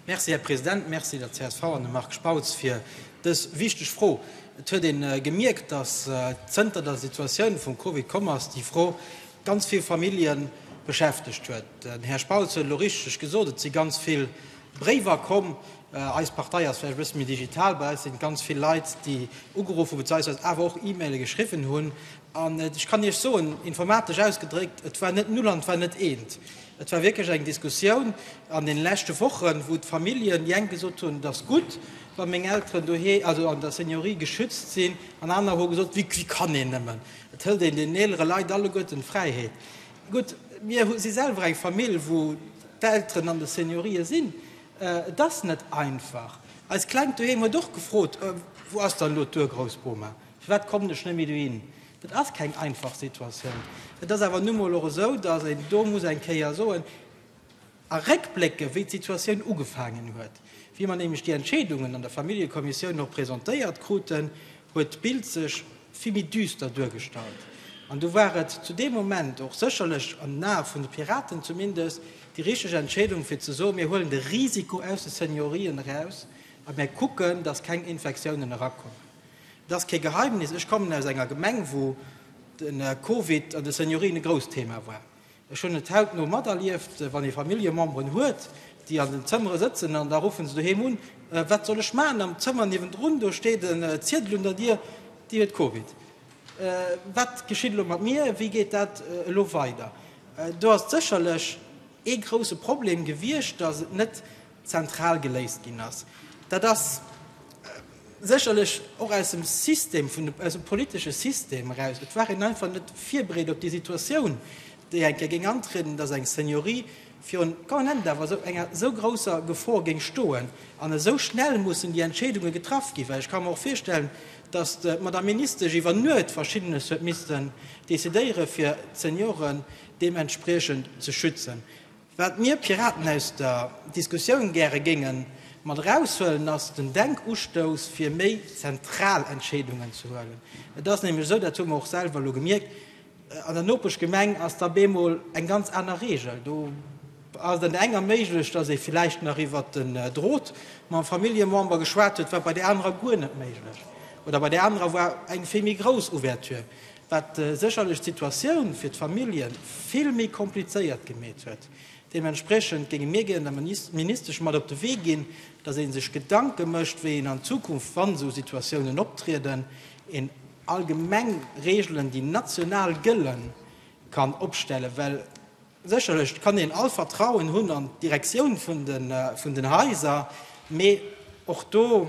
Merci, Här President. Merci der csv an dem Marc Spautz fir dës wichteg Fro. Et huet ee gemierkt, dass zënter der Situatioun vum Covid komm ass, déi Fro ganz vill Famillje beschäftegt huet. Den Här Spautz huet elo richteg gesot, et si ganz vill Bréiwer komm. Eis Partei ass vläicht e bësse méi digital. Bei eis si ganz vill Leit, déi ugeruff hu beziehungsweise awer och E-Maile geschriwwen hunn. An ech kann Iech soen, informatesch ausgedréckt, et war net Null an et war net Eent. Et war wierklech eng Diskussioun an deene leschte Wochen, wou d'Familljen, déi eng gesot hunn, et ass gutt, wa meng Elteren dohi also an der Seniorie geschützt sinn, an aner hu gesot, wéi wéi kann een nëmmen, et hëlt een deenen eelere Leit alleguerten d'Fräiheet. Gutt, mir hu si selwer eng Famill, wou d'Elteren an de Seniorië sinn. Et ass net einfach. Eist Klengt doheem huet och gefrot, wou ass dann elo d'Urgroussboma, firwat kommen ech net méi dohin? Et ass keng einfach Situatioun. Et ass awer nu mol och esou, dass een do muss eng Kéier soen a réckblécken, wéi d'Situatioun ugefaangen huet. Wéi mer nämlech déi Entscheedungen an der Familljekommissioun och presentéiert kruten, huet d'Bild sech vill méi düster duergestallt. An do war et zu deem Moment och sécherlech, an den Ae vun de Piraten zumindest, déi richteg Entscheedung, fir ze soen, Mir huelen de Risiko aus de Seniorien eraus a mir kucken, dass keng Infektiounen erakommen. Et ass kee Geheimnis, ech kommen aus enger Gemeng, wou de Covid an de Seniorien e grousst Thema war. Ech hunn et hautno materlieft, wann ee Familljememberen huet, déi an den Zëmmere sëtzen an da ruffe se doheem un, Wat soll ech maachen, am Zëmmer niewendrun, do steet e Ziedel un der Dier, Dir huet Covid. Wat geschitt elo mat mir? Wéi geet dat elo weider? Do ass et sécherlech ee grousse Problem gewiescht, datt et net zentral geléist ginn ass. Dat ass sécherlech och aus dem System vun de, aus dem politesche System eraus, et war een einfach net virbereet op déi Situatioun, déi eng Kéier géing antrieden, datt eng Seniorie virun quand même da awer esou enger esou grousser Gefor géing stoen an esou schnell mussen déi Entscheedunge getraff ginn. Well ech ka mer och virstellen, datt d'Madame Ministesch iwwer Nuet Verschiddenes huet missten decidéieren, fir d'Senioren deementspriechend ze schützen. Wat mir Piraten aus der Diskussioun gäre géinge mat eraushuelen, ass den Denkustouss fir méi zentral Entscheedungen ze huelen. Et ass nämlech esou, dat hu mer och selwer elo gemierkt, An der Nopeschgemeng ass da bemol eng ganz aner Reegel. Do ass et an där enger méiglech, datt ee vläicht nach iwwert den Drot mam Familljemember geschwat huet, wat bei där anerer guer net méiglech oder bei där anerer war eng vill méi grouss Ouverture. wat sécherlech d'Situatioun fir d'Familljen vill méi komplizéiert gemeet huet. Deementspriechend géinge mir gären der Ministesch mat op de Wee ginn, dass ee sech Gedanke mécht, wéi een an Zukunft, wann esou Situatiounen optrieden, een allgemeng Regeln, déi national gëllen, kann opstellen, well sécherlech kann een all Vertrauen hunn an d'Direktioun vun den Haiser, mee och do.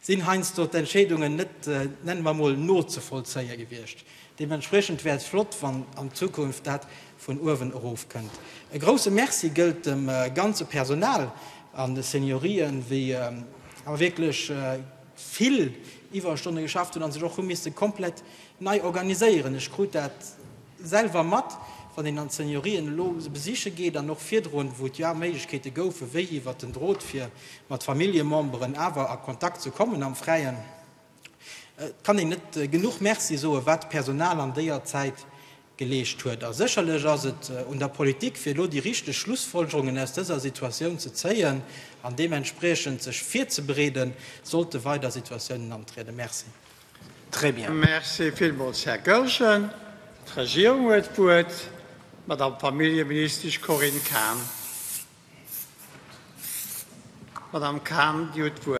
sinn heiansdo d'Entscheedungen net, nenne mer emol, nozevollzéie gewiescht. Deementspriechend wär et flott, wann an Zukunft dat vun uewen erof kënnt. E grousse Merci gëllt dem ganze Personal an de Seniorien, wéi awer wierklech vill Iwwerstonne geschafft hunn a sech och hu misse komplett nei organiséieren. Ech krut dat. selwer mat, wann een an d'Seniorien elo se besiche geet, an och virdrun, wou et jo awer Méiglechkeete goufen, wéi iwwert den Drot fir mat Familljememberen awer a Kontakt ze kommen am Fräien. Et kann een net genuch Merci soen, wat d'Personal an déier Zäit geleescht huet. A sécherlech ass et un der Politik, fir elo déi richteg Schlussfolgerungen aus dëser Situatioun ze zéien an deementspriechend sech virzebereeden, sollte weider Situatiounen antrieden. Merci. Très bien. Merci villmools, Här Goergen. D'Regierung huet d'Wuert, d'Madame Familljeministesch Corinne Cahen. Madame Cahen, Dir hutt d'Wuert.